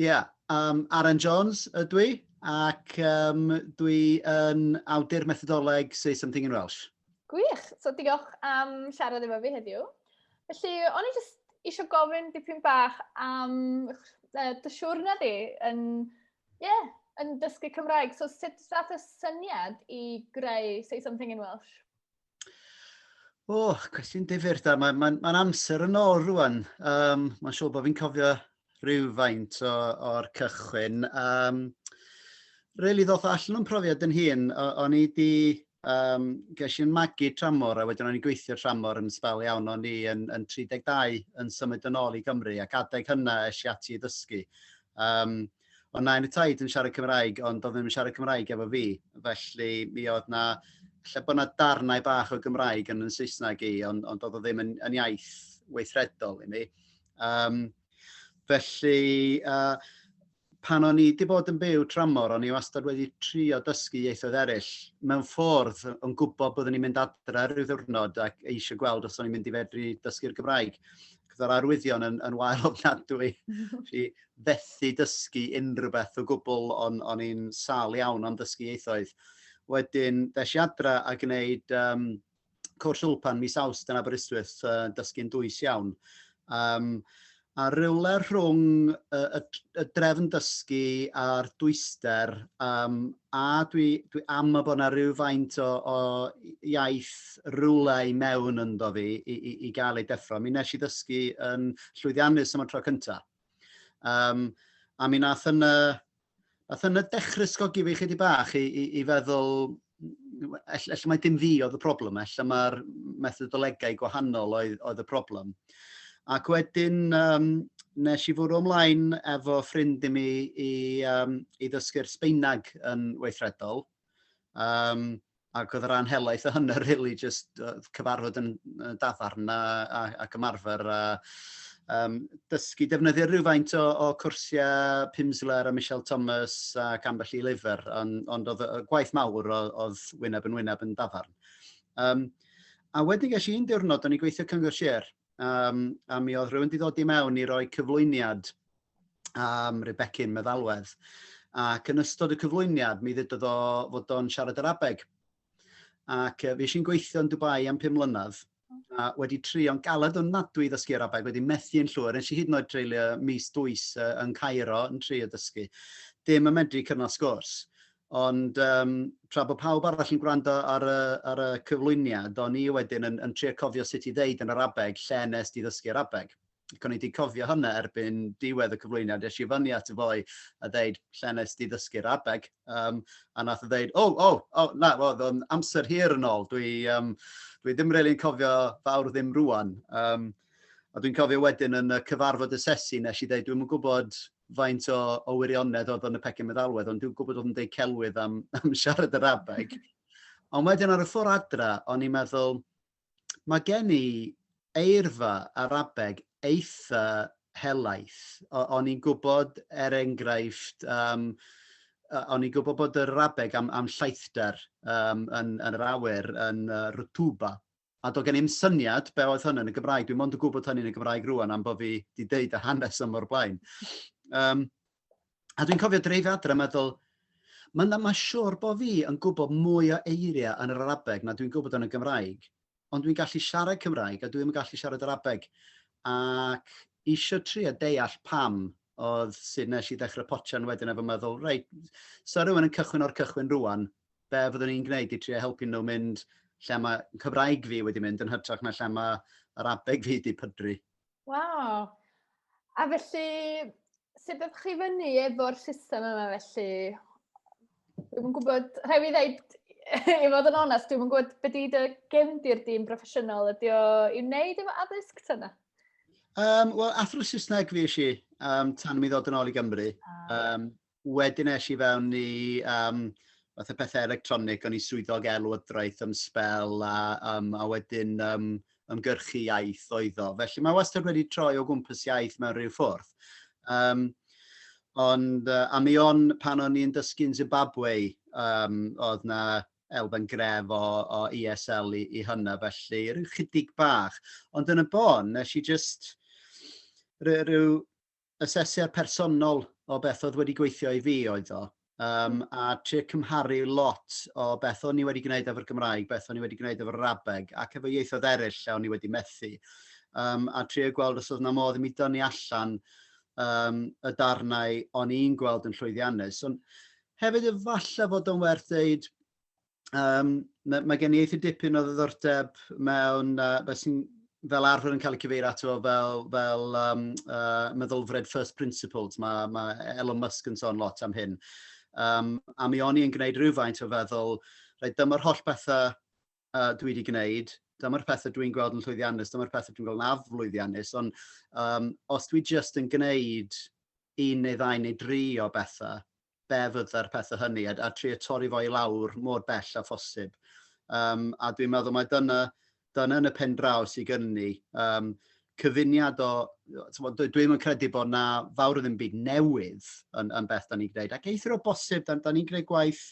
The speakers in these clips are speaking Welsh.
Ia, yym Aaron Jones ydw i ac yym dwi yn awdur methodoleg Say Something in Welsh. Gwych! So diolch am siarad efo fi heddiw. Felly, o'n i jyst isio gofyn dipyn bach am dy siwrne di yn, ie, yn dysgu Cymraeg. So sut ddaeth y syniad i greu Say Something in Welsh? O, oh, cwestiwn difyr da. Mae'n ma, ma amser yn ôl rwan. Um, Mae'n siŵr bod fi'n cofio rhywfaint o'r cychwyn. Um, really ddoth allan o'n profiad yn hun. O'n i di, um, ges i'n magu tramor a wedyn o'n i'n gweithio tramor yn sbel iawn. O'n i yn, yn 32 yn symud yn ôl i Gymru ac adeg hynna eisiau ati i ddysgu. Um, Ond na, yn y taid yn siarad Cymraeg, ond oedd ddim yn siarad Cymraeg efo fi. Felly mi oedd na, lle bod na darnau bach o Gymraeg yn yn Saesneg i, ond, ond oedd o ddim yn, yn iaith weithredol i mi. Um, felly, uh, pan o'n i wedi bod yn byw tramor, o'n i wastad wedi trio dysgu ieithoedd eraill. Mewn ffordd, o'n gwybod byddwn i'n mynd adre rhyw ddiwrnod ac eisiau gweld os o'n i'n mynd i fedru dysgu'r Gymraeg. Cyddo'r arwyddion yn, yn wael ofnadwy. Fi, fethu dysgu unrhyw beth o gwbl, o'n, o'n i'n sâl iawn am ddysgu ieithoedd. Wedyn, ddes i adra a gwneud um, cwrs Ulpan mis Awst yn Aberystwyth, uh, dysgu'n dwys iawn. Um, a rhywle rhwng y, y, y drefn dysgu a'r dwyster, um, a dwi, dwi am y bod yna rhyw faint o, o iaith rhywle i mewn ynddo fi i, i, i gael ei deffro. Mi nes i ddysgu yn llwyddiannus am y tro cyntaf. Um, a mi nath yna, nath yna dechrau sgogi fi chydig bach i, i, i feddwl, ella mae dim fi oedd y problem, ella mae'r methodolegau gwahanol oedd, oedd y problem. Ac wedyn, um, nes i fwrw ymlaen efo ffrind i mi i, um, i ddysgu'r Sbeinag yn weithredol. Um, ac oedd yr anhelaeth o hynny really just cyfarfod yn dafarn a, a, ac ymarfer a um, dysgu defnyddio rhywfaint o, o cwrsiau Pimsleur a Michelle Thomas ac ambell i lyfr, ond, ond oedd y gwaith mawr oedd wyneb yn wyneb yn dafarn. Um, a wedyn ges i'n diwrnod, o'n i'n gweithio Cyngor Sir, um, a mi oedd rhywun wedi dod i mewn i roi cyflwyniad am um, Rebecca'n meddalwedd. Ac yn ystod y cyflwyniad, mi ddedodd o fod o'n siarad yr abeg. Ac uh, fi eisiau'n gweithio yn Dubai am 5 mlynedd, a wedi trio'n galed o'n nadwy i ddysgu Arabeg, wedi methu yn llwyr, nes i hyd yn oed treulio mis dwys uh, yn Cairo yn trio dysgu. Dim yn medru cyfnod sgwrs. Ond yym tra bod pawb arall yn gwrando ar y ar y cyflwyniad, o'n i wedyn yn yn trio cofio sut i ddeud yn Arabeg lle wnest ti ddysgu Arabeg. Ac o'n i 'di cofio hwnna erbyn diwedd y cyflwyniad, es i fyny ato fo i a ddeud 'lle wnest ti ddysgu Arabeg? Yym a nath o ddeud 'o o o na oedd o'n amser hir yn ôl, dwi yym dwi ddim rili'n cofio fawr ddim rŵan'. Yym a dwi'n cofio wedyn yn y cyfarfod asesu nes i ddeud 'dwi'm yn gwbod faint o, o wirionedd oedd yn y pecyn meddalwedd, ond dwi'n gwybod oedd yn deud celwydd am, am siarad yr abeg. Ond wedyn ar y ffordd adra, o'n i'n meddwl, mae gen i eirfa ar abeg eitha helaeth. O'n i'n gwybod, er enghraifft, um, o'n i'n gwybod bod yr abeg am, am llaethdar um, yn, yn yr awyr yn uh, Rutuba, A doedd gen i'm syniad be oedd hwn yn y Gymraeg. Dwi'n mond yn gwybod hynny yn y Gymraeg rwan am bod fi wedi deud y hanes yma o'r blaen. Um, a dwi'n cofio dreifio adre a meddwl, mae'n ma siwr bod fi yn gwybod mwy o eiriau yn yr Arabeg na dwi'n gwybod yn y Gymraeg, ond dwi'n gallu siarad Cymraeg a dwi'n gallu siarad Arabeg. Ac eisiau tri a deall pam oedd sut nes i ddechrau potsian wedyn efo meddwl, reit, so rhywun yn cychwyn o'r cychwyn rwan, be fyddwn ni'n gwneud i trio helpu nhw mynd lle mae Cymraeg fi wedi mynd yn hytrach na lle mae yr abeg fi wedi pydru. Waw! A felly, sut ydych chi fyny efo'r system yma felly? Dwi'n gwybod, rhaid i ddeud, i fod yn onest, dwi'n gwybod beth ydy dy gefndir di'n broffesiynol, ydy o i'w wneud efo addysg tyna? Um, Wel, athro Saesneg fi eisiau um, tan mi ddod yn ôl i Gymru. Um, wedyn eisiau i fewn i um, fath o pethau electronig, o'n i swyddog elwydraeth am spel a, um, a wedyn um, ymgyrchu iaith oedd o. Felly mae wastad wedi troi o gwmpas iaith mewn rhyw ffwrdd. Um, ond uh, a mi on pan o'n i'n dysgu'n Zimbabwe, um, oedd na elfen gref o, o ESL i, i hynna, felly rhyw chydig bach. Ond yn y bon, nes i just rhyw asesiad personol o beth oedd wedi gweithio i fi oedd o. Um, a trio cymharu lot o beth o'n i wedi gwneud efo'r Gymraeg, beth o'n i wedi gwneud efo'r Arabeg, ac efo ieithoedd eraill lle o'n i wedi methu. Um, a trio gweld os oedd na modd i mi dynnu allan um, y darnau o'n i'n gweld yn llwyddiannus. Ond Hefyd efallai fod o'n werth dweud, um, mae, mae gen i eitha dipyn o ddiddordeb mewn uh, beth sy'n fel arfer yn cael ei cyfeirio ato fel, fel um, uh, meddylfred first principles. Mae, mae Elon Musk yn sôn lot am hyn. Um, a mi o'n i'n gwneud rhywfaint o feddwl, rhaid dyma'r holl bethau uh, dwi wedi gwneud, dyma'r pethau dwi'n gweld yn llwyddiannus, dyma'r pethau dwi'n gweld yn aflwyddiannus, ond um, os dwi jyst yn gwneud un neu ddau neu dri o bethau, be fydda'r pethau hynny, a, a trio torri fo i lawr mor bell a phosib. Um, a dwi'n meddwl mae dyna, dyna yn y pen draw sy'n gynnu. Um, cyfuniad o, tmod, dwi ddim yn credu bod na fawr o ddim byd newydd yn, yn beth da ni'n gwneud. Ac eithr o bosib, da, da ni'n gwneud gwaith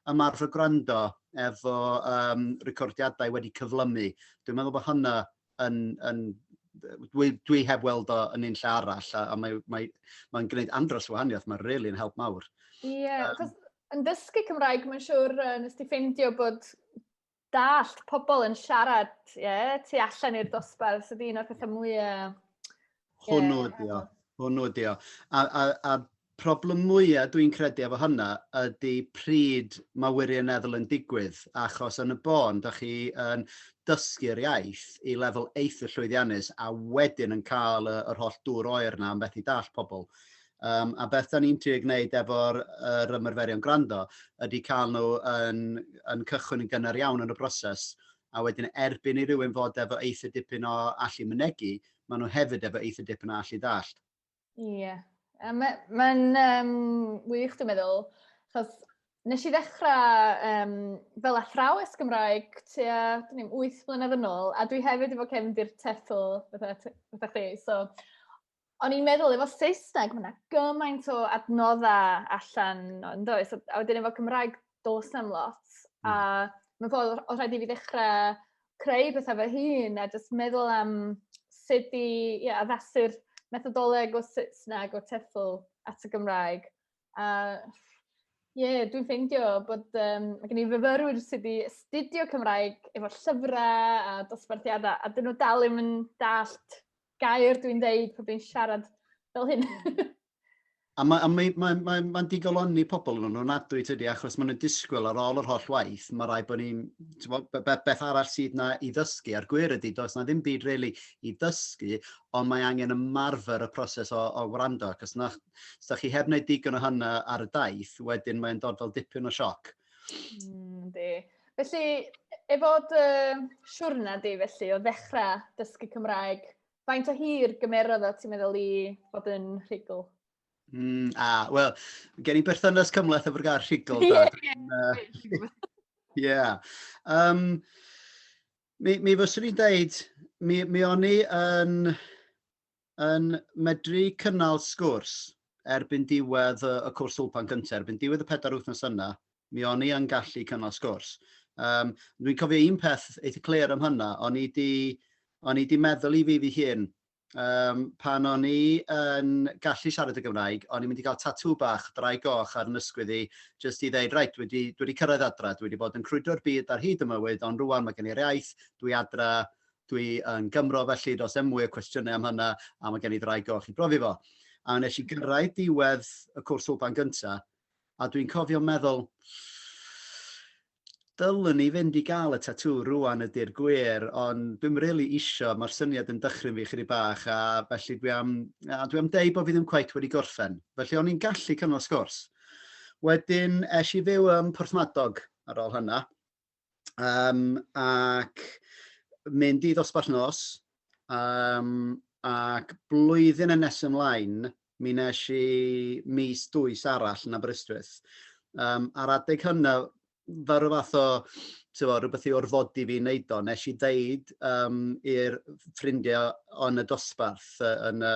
ymarfer gwrando efo um, recordiadau wedi cyflymu. Dwi'n meddwl bod hynna yn, yn dwi, dwi heb weld o yn un lle arall a, a mae'n mae, mae gwneud andros o wahaniaeth, mae'n really yn help mawr. Ie, yeah, um, yn dysgu Cymraeg, mae'n siŵr uh, nes ti ffeindio bod dallt pobl yn siarad, ie, yeah, tu allan i'r dosbarth, sydd un o'r pethau mwyaf... Hwnnw yeah, ydi o, hwnnw ydi o. A, a, a problem mwyaf dwi'n credu efo hynna ydy pryd mae wirioneddol yn digwydd, achos yn y bôn, da chi yn dysgu'r iaith i lefel eitha llwyddiannus a wedyn yn cael yr holl dŵr oer yna am beth i dall pobl. Um, a beth da ni'n trio gwneud efo'r er ymarferion gwrando ydy cael nhw yn, yn cychwyn yn gynnar iawn yn y broses a wedyn erbyn i rywun fod efo eitha dipyn o allu mynegu, maen nhw hefyd efo eitha dipyn o allu dallt. Ie, yeah. mae'n ma um, wych dwi'n meddwl, chos nes i ddechrau um, fel athrawes Gymraeg tua, dyn ni'n 8 blynedd yn ôl, a dwi hefyd efo cefndir TEFL, fatha, fatha chdi, so o'n i'n meddwl efo Saesneg, mae yna gymaint o adnoddau allan yn does, a, a wedyn efo Cymraeg, dos am lot. Mm. A hmm. mae'n ffordd, oedd rhaid i fi ddechrau creu bethau fy hun, a jyst meddwl am sut i yeah, addasu'r methodoleg o Saesneg o TEFL at y Gymraeg. A Ie, yeah, dwi'n ffeindio bod um, mae gen i fyfyrwyr sydd wedi astudio Cymraeg efo llyfrau a dosbarthiadau, a dyn nhw dal ddim yn dallt gair dwi'n dweud pan dwi'n siarad fel hyn. a mae'n mae, mae, mae, mae, mae digolonni pobl yn nhw'n adwy tydi, achos maen nhw'n disgwyl ar ôl yr holl waith, mae rai bod ni'n, beth arall sydd na i ddysgu, a'r gwir ydy, does na ddim byd really i ddysgu, ond mae angen ymarfer y proses o, o wrando, ac os na, os da chi heb wneud digon o hynna ar y daith, wedyn mae'n dod fel dipyn o sioc. Mm, di. Felly, efo dy siwrna di felly, o ddechrau dysgu Cymraeg, faint o hir gymerodd o ti'n meddwl i fod yn rhugl? Mm, a, wel, gen i berthynas cymleth efo'r gair rhugl. Ie, ie. Ie. Um, mi, mi fyswn i'n deud, mi, mi o'n i yn yn medru cynnal sgwrs erbyn diwedd y y cwrs Wlpan gynta, erbyn diwedd y pedair wythnos yna, mi o'n i yn gallu cynnal sgwrs. Um, Dwi'n cofio un peth eitha clir am hynna, o'n i di, o'n i di meddwl i fi fi hun, um, pan o'n i yn gallu siarad y Gymraeg, o'n i'n mynd i gael tatŵ bach, drai goch ar nysgwydd i, jyst i ddeud, reit, dwi wedi, dwi wedi cyrraedd adra, dwi wedi bod yn crwydro'r byd ar hyd y mywyd, ond rwan mae gen i'r iaith, dwi adra, dwi yn Gymro felly does dim mwy o cwestiynau am hynna a mae gen i ddraig o chi brofi fo. A nes i gyrraedd diwedd y cwrs wlban gynta a dwi'n cofio meddwl dylwn ni fynd i gael y tatŵ rwan ydy'r gwir ond dwi'm really isio mae'r syniad yn dychryn fi chydig bach a felly dwi am, a dwi am deud bod fi ddim cweit wedi gorffen felly o'n i'n gallu cynnal sgwrs. Wedyn es i fyw ym Porthmadog ar ôl hynna um, ac mynd i ddosbarth nos, um, ac blwyddyn yn nes ymlaen, mi nes i mis dwys arall yn Aberystwyth. Um, ar adeg hynna, fe rhyw fath o tyfo, rhywbeth i orfodi fi wneud o, nes i ddeud um, i'r ffrindiau yn y dosbarth, yn y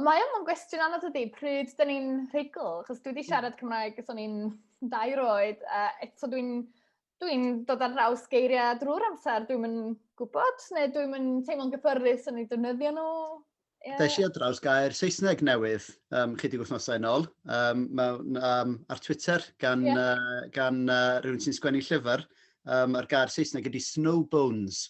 Ond mae o'n gwestiwn anodd ydy, pryd dyn ni'n rhugl? Chos dwi wedi hmm. siarad Cymraeg ys o'n i'n dair oed, a eto dwi'n dwi dod ar draws geiriau drwy'r amser, dwi'n mynd gwybod, neu dwi'n mynd teimlo'n gyffyrddus yn ei defnyddio nhw. Yeah. Deis i ar draws gair Saesneg newydd um, chydig wythnosau yn ôl um, mewn, um, ar Twitter gan, yeah. uh, gan uh, rhywun sy'n sgwennu llyfr um, a'r gair Saesneg ydy snow bones,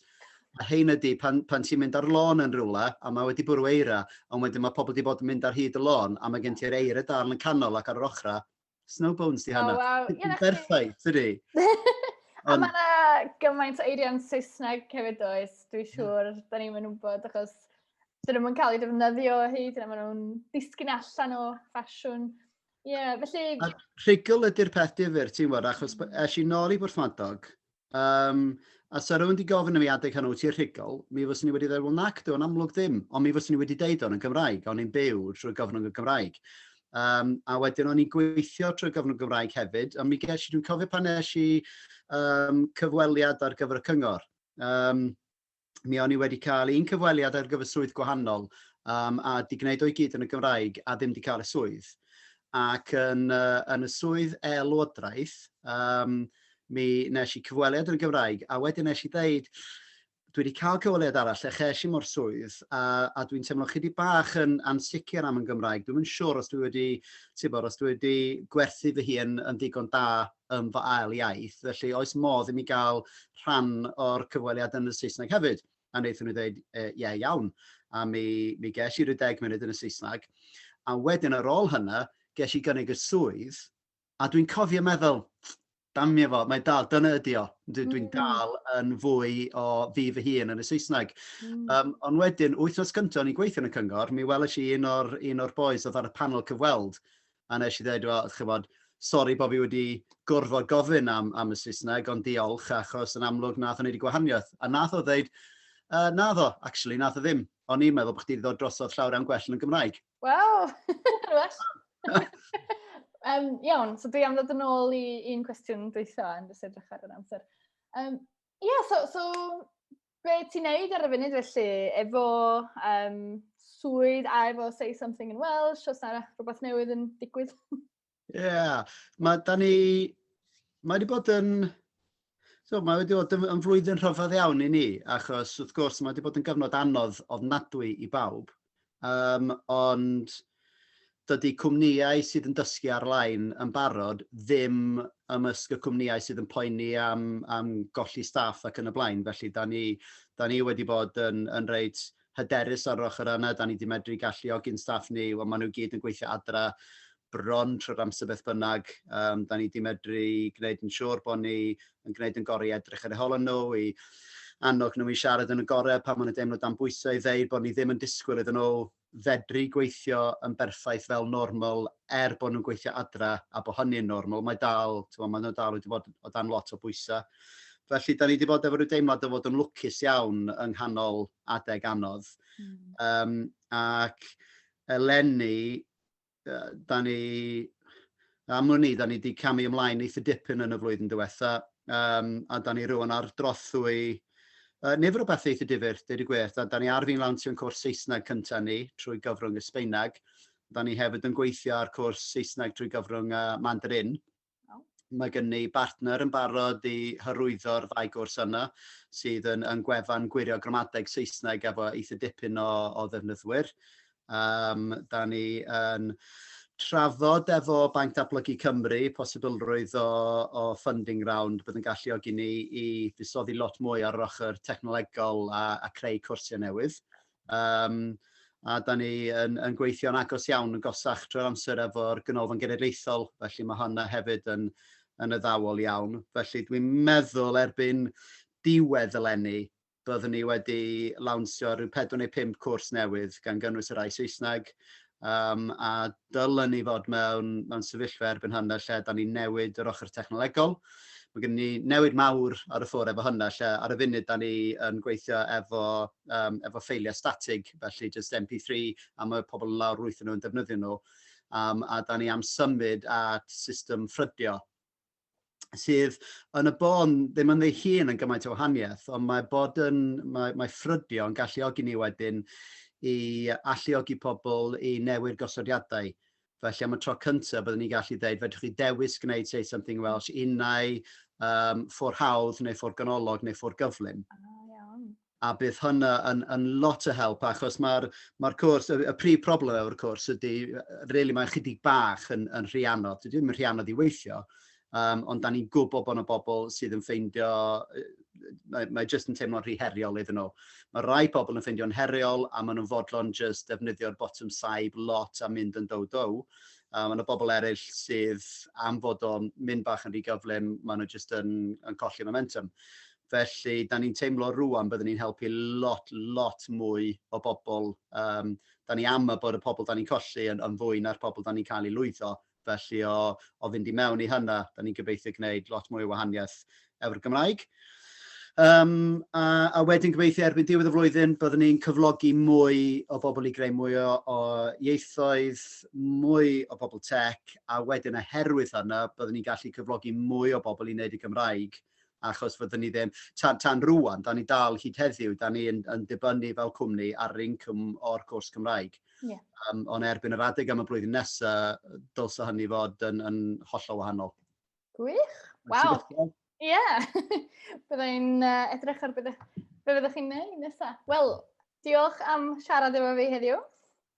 A hyn ydy, pan, pan ti'n mynd ar lôn yn rhywle, a mae wedi bwrw eira, ond wedyn mae pobl wedi bod yn mynd ar hyd y lôn, a mae gen ti'r eira darn yn canol ac ar yr ochrau, snow bones di hana. Oh, wow. Yeah, Berffaith, ydy. A mae yna gymaint o eiriau'n Saesneg hefyd oes, dwi hmm. siŵr, mm. da ni'n mynd wybod, achos dyn nhw'n cael ei defnyddio o hyd, yna maen nhw'n disgyn allan o ffasiwn. Ie, yeah, felly... A rhugl ydy'r peth difyr, ti'n gwybod, achos mm. es i nôl i Bwrthmadog, um, a sa rhywun wedi gofyn i mi adeg hynny, ti'n rhugl, mi fyswn i wedi dweud, wel nac, dwi'n amlwg ddim, ond mi fyswn i wedi deud o'n yn Gymraeg, o'n i'n byw trwy gyfnod y Gymraeg. Um, a wedyn o'n i'n gweithio trwy gyfnod Gymraeg hefyd, a mi ges i, dwi'n cofio pan nes i um, cyfweliad ar gyfer y cyngor. Um, mi o'n i wedi cael un cyfweliad ar gyfer swydd gwahanol um, a di gwneud o'i gyd yn y Gymraeg a ddim di cael y swydd. Ac yn, uh, yn y swydd e-lywodraeth, um, mi nes i cyfweliad yn y Gymraeg a wedyn nes i ddeud, dwi wedi cael cyfweliad arall lle ches i mor swydd a, a dwi'n teimlo chi wedi bach yn ansicr am yn Gymraeg. Dwi'n mynd siwr os dwi wedi, tibod, os dwi wedi gwerthu fy hun yn ddigon da yn fy ail iaith, felly oes modd i mi gael rhan o'r cyfweliad yn y Saesneg hefyd? A wnaethon nhw ddeud, e, ie, iawn. A mi, mi ges i ryw deg munud yn y Saesneg. A wedyn ar ôl hynna, ges i gynnig y swydd, a dwi'n cofio meddwl, damio fo, mae dal, dyna ydi o. Dwi'n dwi mm. dal yn fwy o fi fy hun yn y Saesneg. Mm. Um, ond wedyn, wythnos cyntaf o'n i'n gweithio yn y cyngor, mi welais i un o'r, un or boys oedd ar y panel cyfweld, a nes i ddweud, wel, chybod, sori bod fi wedi gorfod gofyn am, am y Saesneg, ond diolch, achos yn amlwg nath o'n wedi gwahaniaeth. A nath o ddweud, uh, na ddo, actually, nath o ddim. O'n i'n meddwl bod chdi wedi dod drosodd llawr am gwell yn y Gymraeg. Wel, well. um, iawn, so dwi am ddod yn ôl i un cwestiwn dweitha yn jyst edrych ar yr amser. Um, yeah, so, so be ti'n neud ar y funud felly, efo um, swydd a efo Say Something in Welsh, os yna rhywbeth newydd yn digwydd? Ie, yeah. mae da ni, mae wedi bod yn, so, mae wedi bod yn, yn flwyddyn rhyfedd iawn i ni, achos wrth gwrs mae wedi bod yn gyfnod anodd ofnadwy i bawb, Yym ond dydy cwmnïau sydd yn dysgu ar-lein yn barod ddim ymysg y cwmnïau sydd yn poeni am am golli staff ac yn y blaen. Felly da ni da ni wedi bod yn yn reit hyderus ar yr ochr yna, da ni 'di medru galluogi'n staff ni, wel maen nhw i gyd yn gweithio adra, bron trwy'r amser beth bynnag. Um, da ni wedi medru gwneud yn siŵr bod ni yn gwneud yn gorau i edrych ar eu holon nhw, i annog nhw i siarad yn y gorau pan maen nhw'n deimlo dan bwysau i ddeud bod ni ddim yn disgwyl iddyn nhw fedru gweithio yn berffaith fel normal er bod nhw'n gweithio adra a bod hynny'n normal. Mae dal, tywa, maen nhw dal wedi bod o dan lot o bwysau. Felly, da ni wedi bod efo rhyw deimlad o fod yn lwcus iawn yng nghanol adeg anodd. Mm. Um, ac eleni, da ni, am wn i, da ni wedi camu ymlaen eitha dipyn yn y flwyddyn diwetha, um, a da ni rwan ar drothwy uh, nifer o beth eitha difyr, dweud y gwir. Da, da ni ar fi'n lawnsio'n cwrs Saesneg cyntaf ni trwy gyfrwng y Sbeineg. Da ni hefyd yn gweithio ar cwrs Saesneg trwy gyfrwng uh, Mandarin. Mae gen ni bartner yn barod i hyrwyddo'r ddau gwrs yna, sydd yn yn gwefan gwirio gramadeg Saesneg efo eitha dipyn o o ddefnyddwyr. Yym da ni yn trafod efo Banc Datblygu Cymru posibilrwydd o o funding round bydd yn galluogi ni i fusoddi lot mwy ar yr ochr technolegol a a creu cwrsiau newydd. Um, a da ni yn, yn gweithio'n agos iawn yn gosach trwy'r amser efo'r Ganolfan Genedlaethol, felly mae honna hefyd yn, yn y ddawol iawn. Felly dwi'n meddwl erbyn diwedd eleni, byddwn ni wedi lawnsio rhyw 4 neu 5 cwrs newydd, gan gynnwys y rai Saesneg, Yym, a dylen ni fod mewn mewn sefyllfa erbyn hyn lle dan ni'n newid yr ochr technolegol. Mae gen ni newid mawr ar y ffwr efo hyn lle ar y funud dan ni yn gweithio efo yym efo ffeiliau statig, felly jyst MP3 a mae pobl yn lawr rwytho nhw yn defnyddio nhw. Yym, a dan ni am symud at system ffrydio. sydd yn y bôn ddim yn ei hun yn gymaint o wahaniaeth, ond mae bod yn, mae, mae ffrydio yn galluogi ni wedyn i alluogi pobl i newid gosodiadau. Felly am y tro cyntaf byddwn ni'n gallu dweud, fedrwch chi dewis gwneud Say Something Welsh unau um, ffordd hawdd neu ffordd ganolog neu ffordd gyflym. Ah, iawn. a bydd hwnna yn yn lot o help achos mae'r mae'r cwrs y, y prif problem efo'r cwrs ydy really mae'n chydig bach yn yn rhy anodd dydy ddim yn rhy anodd i weithio um, ond da ni'n gwybod bod yna bobl sydd yn ffeindio mae, mae jyst yn teimlo'n rhy heriol iddyn nhw. Mae rai pobl yn ffeindio'n heriol a maen nhw'n fodlon jyst defnyddio'r bottom saib lot a mynd yn dow dow. Um, mae yna bobl eraill sydd am fod o'n mynd bach yn rhy gyflym, maen nhw jyst yn, yn colli momentum. Felly, da ni'n teimlo rŵan byddwn ni'n helpu lot, lot mwy o bobl. Um, da ni am y bod y pobl da ni'n colli yn, yn fwy na'r pobl da ni'n cael ei lwyddo. Felly, o, o fynd i mewn i hynna, da ni'n gobeithio gwneud lot mwy o wahaniaeth efo'r Gymraeg. Um, a, a wedyn gobeithio erbyn diwedd y flwyddyn byddwn ni'n cyflogi mwy o bobl i greu mwy o, o ieithoedd, mwy o bobl tech, a wedyn oherwydd hynna byddwn ni'n gallu cyflogi mwy o bobl i wneud y Gymraeg achos fyddwn ni ddim, tan, tan rwan, da ni dal hyd heddiw, da ni yn, yn dibynnu fel cwmni ar yr incwm o'r cwrs Cymraeg. Yeah. Um, ond erbyn yr adeg am y blwyddyn nesaf, dylse hynny fod yn, yn hollol wahanol. Gwych, waw. Ie, yeah. byddai'n uh, edrych ar beth fyddwch chi'n neud nesaf. Wel, diolch am siarad efo fi heddiw.